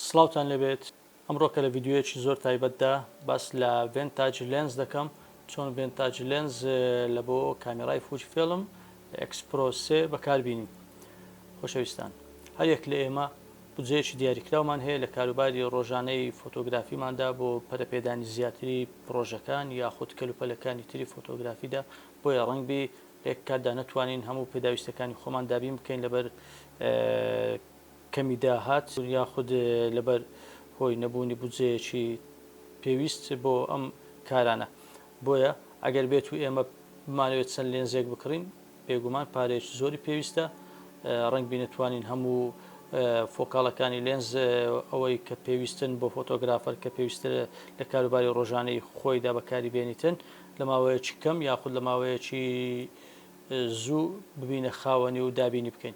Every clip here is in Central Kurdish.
سڵاوتان لێبێت ئەمڕۆ کە لە ڤیددیوەیەکی زۆر تایبەتدا باس لە ڤێنتاج لێنز دەکەم چۆن ڤێنتاج لێنز لە بۆ کامیرای فوج فێڵم ئەکسپرۆسێ بەکاربیین خۆشەویستان هەرێک لە ئێمە بجەیەکی دیاریکراومان هەیە لە کاروباری ڕۆژانەی فۆتۆگرافیماندا بۆ پەرەپێدانی زیاتری پرۆژەکان یاخود کەلوپەلەکانی تری فۆتۆگرافیدا بۆیە ڕەنگبی لێک کاتدا نەتوانین هەموو پێداویستەکانی خۆمان دابین بکەین لەبەر کەمی داهات یاخود لەبەر هۆی نەبوونی بودجەیەکی پێویست بۆ ئەم کارانە. بۆیە ئەگەر بێت و ئێمە بمانەوێت چەند لێنزێک بکڕین، بێگومان پارەیەکی زۆری پێویستە. ڕەنگبی نەتوانین هەموو فۆکاڵەکانی لێنز ئەوەی کە پێویستن بۆ فۆتۆگرافەر کە پێویستە لە کاروباری ڕۆژانەی خۆیدا بەکاری بێنیتن لە ماوەیەکی کەم یاخود لە ماوەیەکی زوو ببینە خاوەنی و دابینی بکەین.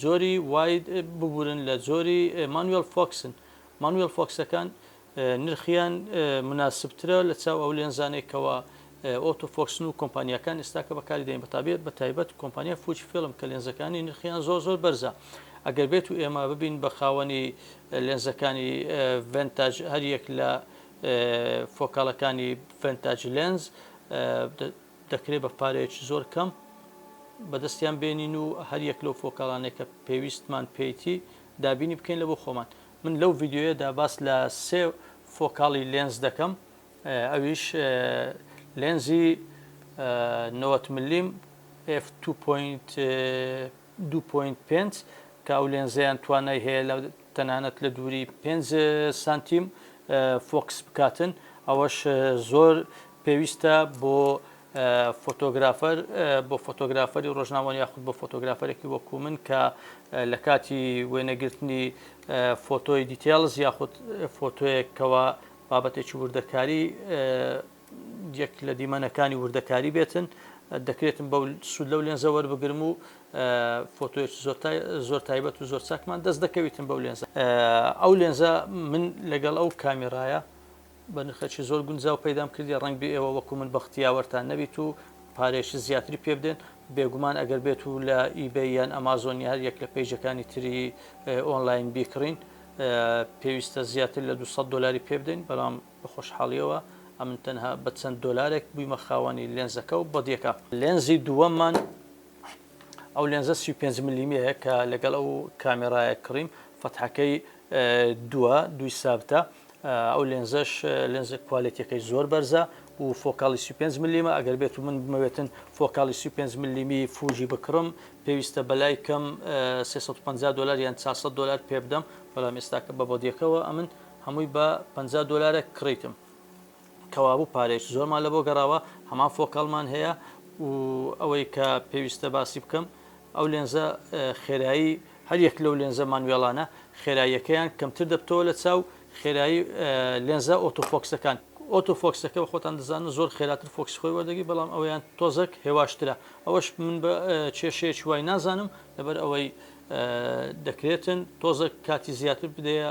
جۆری واید ببورن لە جۆری مانوێڵ فۆکسن، مانوێڵ فۆکسەکان نرخیان مناسبترە لە چاو ئەو لێنزانەی کەوا ئۆتۆ فۆکسن و کۆمپانیاکان ئێستاکە بەکاری دێن بەتابێت بە تایبەت کۆمپانیای فوجی فیلم کە لێنزەکانی نرخیان زۆر زۆر بەرزە ئەگەر بێت و ئێمە ببین بە خاوەنی لێنزەکانی ڤنتاج هەریەک لە فۆکالەکانی ڤنتاج لێنز دەکرێت بە پارەیەکی زۆر کەم بەدەستیان بێنین و هەر یەک لەو فۆکەڵانێک کە پێویستمان پێیتی دابینی بکەین لە بۆ خۆمان من لەو ڤیددیوەیەدا باس لە سێ فۆکاڵی لێنز دەکەم ئەویش لێنزی 90 ملیم F2.5 دوو پۆینت پێنج، کە ئەو لێنزەیان توانای هەیە لە تەنانەت لە دووری پێنج سانتیم فۆکس بکاتن، ئەوەش زۆر پێویستە بۆ فۆتۆگرافەر، بۆ فۆتۆگرافەری ڕۆژنامەوان یاخود بۆ فۆتۆگرافەرێکی وەکو من کە لە کاتی وێنەگرتنی فۆتۆی دیتێلز یاخود فۆتۆیەک کەوا بابەتێکی وردەکاری یەک لە دیمەنەکانی وردەکاری بێتن دەکرێتم بە سوود لەو لێنزە وەربگرم و فۆتۆێک زۆر تایبەت و زۆر چاکمان دەست دەکەویتم بەو لێنزە ئەو لێنزە من لەگەڵ ئەو کامیڕایە بە نرخەکی زۆر گونجاو پەیدام کردی ڕنگ بێ ئێوە وەکو من بەختیاوەرتان نەبیت و پارێکی زیاتری پێ بدەن بێگومان ئەگەر بێت و لە ئیبە یان ئەمازۆنی هەر یەک لە پێیجەکانی تری ئۆنلاین بیکڕین پێویستە زیاتر لە 200 دلاری پێ بدەین بەڵام بە خۆشحاڵییەوە، ئەمن تەنها بە چەند دۆلارێک بوویمە خاوەنی لێنزەکە و بەدیەکە. لێنزی دووەممان ئەو لێنزە سی و پێنج ملیمەیە کە لەگەڵ ئەو کامێرایە کڕیم، فەتحەکەی دووە، دووی سابتە، ئەو لێنزەش لێنزە کوالێتیەکەی زۆر بەرزە و فۆکاڵی سی و پێنج ملیمە، ئەگەر بێت و من بمەوێتن فۆکاڵی سی و پێنج ملیمی فوجی بکڕم، پێویستە بەلای کەم سێ سەد و پەنجا دۆلار یان چار سەد دۆلار پێبدەم، بەڵام ئێستاکە بە بەدیەکەوە ئەمن هەمووی بە پەنجا دۆلارێک کڕیتم کەوابوو پارەیەکی زۆرمان لە بۆ گەڕاوە هەمان فۆکەڵمان هەیە و ئەوەی کە پێویستە باسی بکەم ئەو لێنزە خێرایی هەر یەک لەو لێنزە مانوێڵانە خێراییەکەیان کەمتر دەبتەوە لە چاو خێرایی لێنزە ئۆتۆفۆکسەکان ئۆتۆفۆکسەکە بە خۆتان دەزانن زۆر خێراتر فۆکس خۆی وەردەگی بەڵام ئەویان تۆزەک هێواشترە ئەوەش من بە کێشەیە چوای نازانم لەبەر ئەوەی دەکرێتن تۆزە کاتی زیاتر بدەیە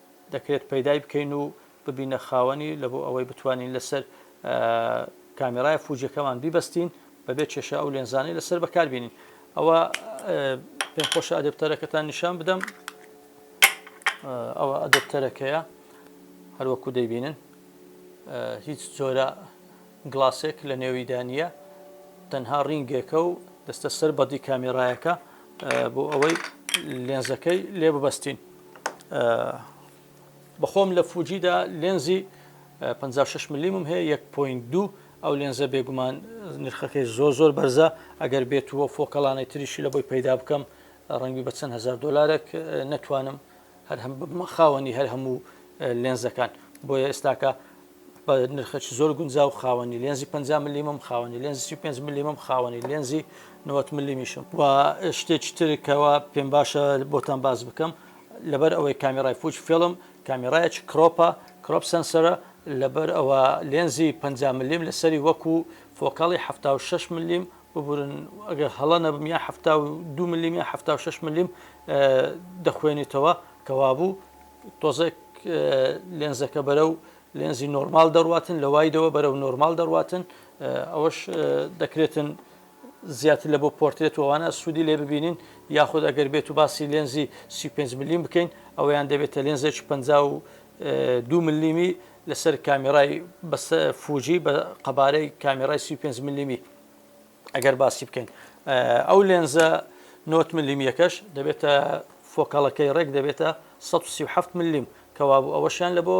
دەکرێت پەیدای بکەین و ببینە خاوەنی لە بۆ ئەوەی بتوانین لەسەر کامیرای فوجەکەمان بیبەستین بەبێ کێشە ئەو لێنزانەی لەسەر بەکاربیێنین ئەوە پێم خۆشە ئەدەپتەرەکەتان نیشان بدەم ئەوە ئەدەپتەرەکەیە هەروەکو دەیبینن هیچ جۆرە گڵاسێک لە نێویدا نییە تەنها ڕینگێکە و دەستە سەر بەدی کامێرایەکە بۆ ئەوەی لێنزەکەی لێ ببەستین بەخۆم لە فوجیدا لێنزی 56 ملیمم هەیە 1.2 ئەو لێنزە بێگومان نرخەکەی زۆر زۆر بەرزە ئەگەر بێت وە فۆکەڵانەی تریشی لە بۆی پەیدا بکەم ڕەنگی بە چەند هزار دلارێک نەتوانم هەر هەم بمە خاوەنی هەر هەموو لێنزەکان بۆیە ئێستاکە بە نرخەکی زۆر گونجاو خاوەنی لێنزی پەنجا ملیمم، خاوەنی لێنزی سی و پێنج ملیمم، خاوەنی لێنزی نەوەد ملیمیشم. و شتێکی تر کەوا پێم باشە بۆتان باس بکەم، لەبەر ئەوەی کامیرای فوجی فیلم کامیرایەکی کرۆپە، Crop Sensor، ە، لەبەر ئەوە لێنزی پەنجا ملیم لەسەری وەکو فۆکەڵی حەفتا و شەش ملیم، ببورن ئەگەر هەڵە نەبم یان حەفتا و دوو ملیم یان حەفتا و شەش ملیم دەخوێنیتەوە کەوابوو تۆزێک لێنزەکە بەرەو لێنزی نۆرمال دەڕاتن لە وایدەوە بەرەو نۆرمال دەڕاتن ئەوەش دەکرێتن زیاتر لە بۆ پۆرتێت وانە سوودی لێ ببینین یاخود ئەگەر بێت و باسی لێنزی 35 ملیم بکەین ئەویان دەبێتە لێنزێک 50 و دو ملیمی لەسەر کامێرای بەسە فوجی بە قەبارەی کامێرای 35 ملیمی ئەگەر باسی بکەین ئەو لێنزە نۆت ملیم یەکەش دەبێتە فۆکەڵەکەی ڕێک دەبێتە 1970 ملیم کەوابوو ئەوەشیان لە بۆ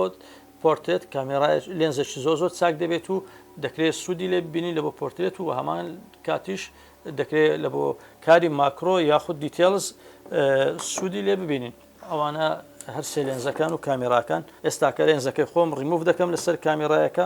پۆرتێت کامێرای لێنزەشی زۆ زۆر چاک دەبێت و دەکرێت سوودی لێ بینی لە بۆ پۆرتێت و هەمان کاتیش دەکرێت لە بۆ کاری ماکرۆ یاخود دیتێلز سوودی لێ ببینین ئەوانە هەر سێلێنزەکان و کامێراکان ئێستاکە لێنزەکەی خۆم ڕیموف دەکەم لەسەر کامێرایەکە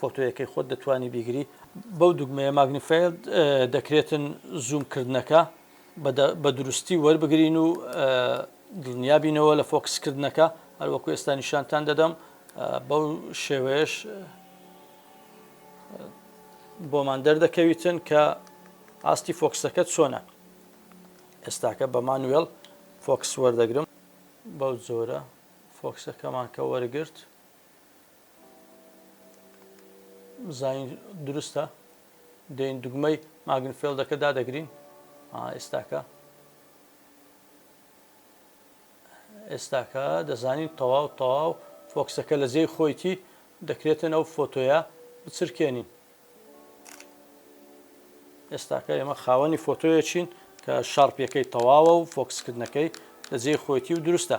فۆتۆیەکەی خۆت دەتوانی بیگری بەو دوگمەیە ماگنیفایل دەکرێتن زووم کردنەکە بە دروستی وەربگرین و دڵنیابینەوە لە فۆکسکردنەکە هەروەکو ئێستا نیشانتان دەدەم بەو شێوەیەش بۆمان دەردەکەویتن کە ئاستی فۆکسەکە چۆنە ئێستاکە بە مانوێڵ فۆکس وەردەگرم بەو جۆرە فۆکسەکەمان کە وەرگرت زین دروستە دێن دوگمەی ماگن فێلدەکە دادەگرین ئێستاکە ئێستاکە دەزانین تەواو تەواو فۆکسەکە لە جێی خۆیتی دەکرێتن ئەو فۆتۆیە بچرکێنین ئێستاکە ئێمە خاوەنی فۆتۆیە چین کە شارپیەکەی تەواوە و فۆکسکردنەکەی لە جێی خۆیتی و دروستە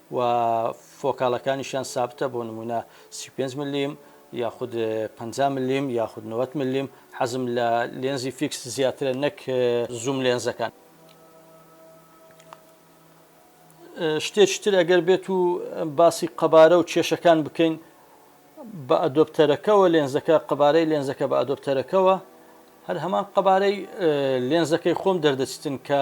و فۆکاڵەکانیشیان سابتە بۆ نموونە سی و پێنج ملیم یاخود پەنجا ملیم یاخود نەوەد ملیم حەزم لە لێنزی فیکس زیاترە نەک زووم لێنزەکان شتێکی تر ئەگەر بێت و باسی قەبارە و کێشەکان بکەین بە ئەدۆپتەرەکەەوە لێنزەکە قەبارەی لێنزەکە بە ئەدۆپتەرەکەەوە هەر هەمان قەبارەی لێنزەکەی خۆم دەردەچتن کە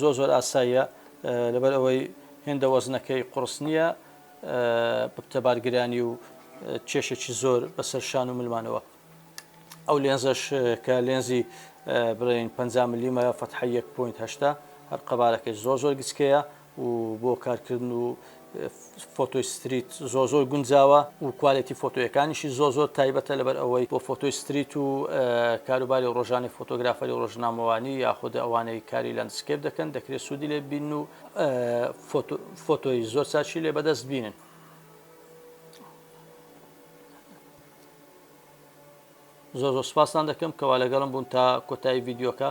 زۆر زۆر ئاساییە لەبەر ئەوەی هێندە وەزنەکەی قوڕس نییە ببتە بارگرانی و کێشێکی زۆر بەسەر شان و ملمانەوە ئەو لێنزەش کە لێنزی بڵێن 50 ملیمە فەتحە 1.8 هەر قەبارەکەی زۆر زۆر گچکەیە و بۆ کارکردن و فۆتۆی ستریت زۆر زۆر گونجاوە و کوالێتی فۆتۆیەکانیشی زۆر زۆر تایبەتە لەبەر ئەوەی بۆ فۆتۆی ستریت و کاروباری ڕۆژانەی فۆتۆگرافەری و ڕۆژنامەوانی یاخود ئەوانەی کاری لاندسکێپ دەکەن دەکرێت سوودی لێ ببینن و فۆتۆی زۆر چاکی لێ بەدەست بینن. زۆر زۆر سپاستان دەکەم کەوا لەگەڵم بوون تا کۆتایی ڤیدیۆکە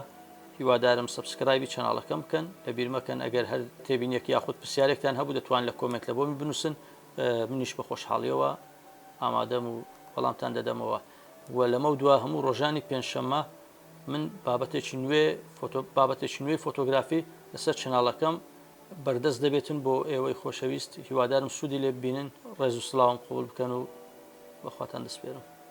هیوادارم سەبسکرایبی چەناڵەکەم بکەن لەبیر مەکەن ئەگەر هەر تێبینیەک یاخود پرسیارێکتان هەبوو دەتوان لە کۆمێنت لە بۆمی بنووسن منیش بە خۆشحاڵیەوە ئامادەم و وەڵامتان دەدەمەوە و لەمە دوا هەموو ڕۆژانی پێنجشەممە من بابەتێکی نوێ فۆتۆ بابەتێکی نوێی فۆتۆگرافی لەسەر چناڵەکەم بەردەست دەبێتن بۆ ئێوەی خۆشەویست هیوادارم سوودی لێ ببینن ڕێز و سلااوم قوبول بکەن و بەخواتان دەسپێرم